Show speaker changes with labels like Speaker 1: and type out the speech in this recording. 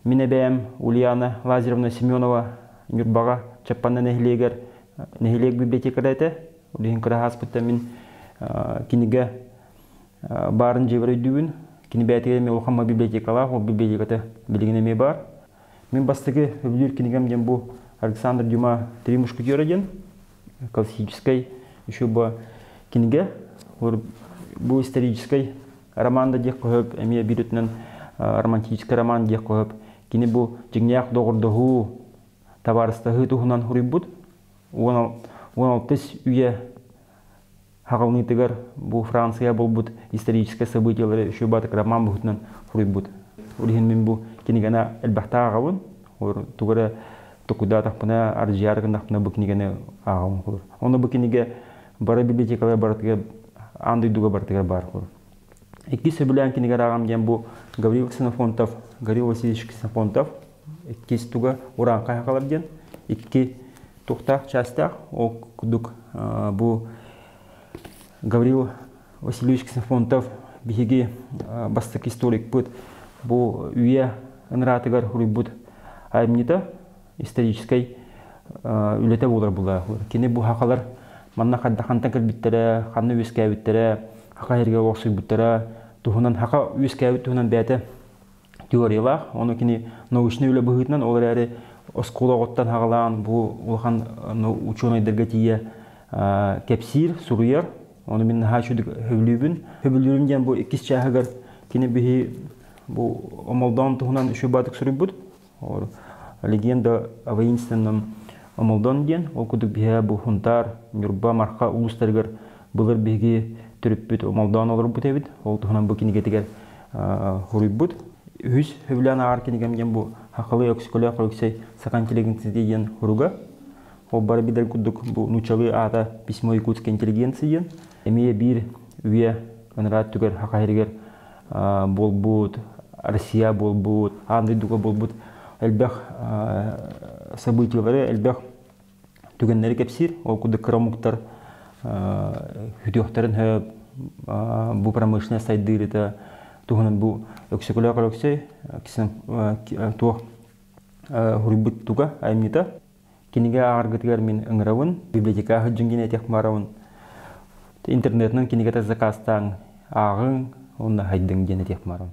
Speaker 1: Мин эбээм Ульяна Лазаревна Семенова Ньурбаҕа Чаппанна нэһилиэгэр нэһилиэк библиотекаря этэ. Ол иһин кыра ааспыттан мин кинигэ баарын дьиэбэр өйдүүбүн. Кини бээтигэр эмиэ улахан библиотекалаах, ол библиотеката билигин эмиэ баар. Мин бастакы люблю книгам диэн бу Александр Дюма «Три мушкетера» диэн классическай еще бы кинигэ. Бу исторический роман да диэх көһөп, эмиэ биир өтүнэн романтический роман диэх көһөп. Кини бу дьиҥнээх доҕордоһуу, табаарыстаһыы туһунан хуруйбут. 16 үйэ Хаҕылҕыытыгар бу Франция буолбут историческай событиелары үчүгэй баатык роман быһыытынан суруйбут. Ол иһин мин бу кинигэни элбэхтэ ааҕабын. Тугу эрэ токуйдаатахпына, ардьыйаары гыннахпына бу кинигэни ааҕабын. Онно бу кинигэ бары библиотекалар барытыгар аан дойдуга барытыгар баар Икки сөбүлээн кинигэр ааҕам диэн бу Гаврил Ксенофонтов, Гаврил Васильевич Ксенофонтов иккис туга урааҥха хаалар диэн икки туохтаах частьтаах ол курдук бу Гаврил Васильевич Ксенофонтов биһиги бастакы историкпыт бу үйэ ынараатыгар суруйбут айымньыта историческай үлэтэ буолар була кини бу хахалар манна хайда хантан кэлбиттэрэ ханна үөскээбиттэрэ хаха иһэргэ уохсуйбуттара туһунан хаха үөскээбит туһунан бэйэтэ теориялаах ону кини научный үлэ быһыытынан ол эрээри оскуолаҕыттан хаҕалаан бу улахан учуонайдарга тиийэ кэпсиир суруйар ону мин наһаа үчүгдүк сөбүлүүбүн сөбүлүүрүм диэн бу иккис чааһыгар кини биһи бу омолдоон туһунан үчүгэй баатык суруйбут Легенда о воинственном омолдон диэн, ол курдук биһэ бу Хунтаар, Ньурба, Марха улуустарыгар былыр биһиги төрүппүт омолдоон олорбут эбит. Ол туһунан бу кинигэтигэр хоруйбут. Үһүс Хөвлөөн ааҕар кинигэм диэн бу Хахылы Өксөкөлөөх Өксөй сакан телегенцити диэн хоруга. Ол бары билэр курдук бу нуучалыы аата письмо якутская интеллигенция диэн. Эмиэ биир үйэ Кынраат түгэр Хахайрыгар буолбут, Россия буолбут, аан дойдуга буолбут элбэх событиелары, элбэх түгэннэри кэпсиир. Ол курдук кыра омуктар хүтүөхтэрин сөп, бу промышленность сайдыырыта туһунан бу Өксөкөлөөх Өлөксөй туох суруйбут туга айымньыта Кинигэ ааҕаргытыгар мин ыҥырабын, библиотека сылдьыҥ диэн этиэх баарабын. Интернетинэн кинигэтэ закаастааҥ, ааҕыҥ уонна сайдыҥ диэн этиэх баарабын.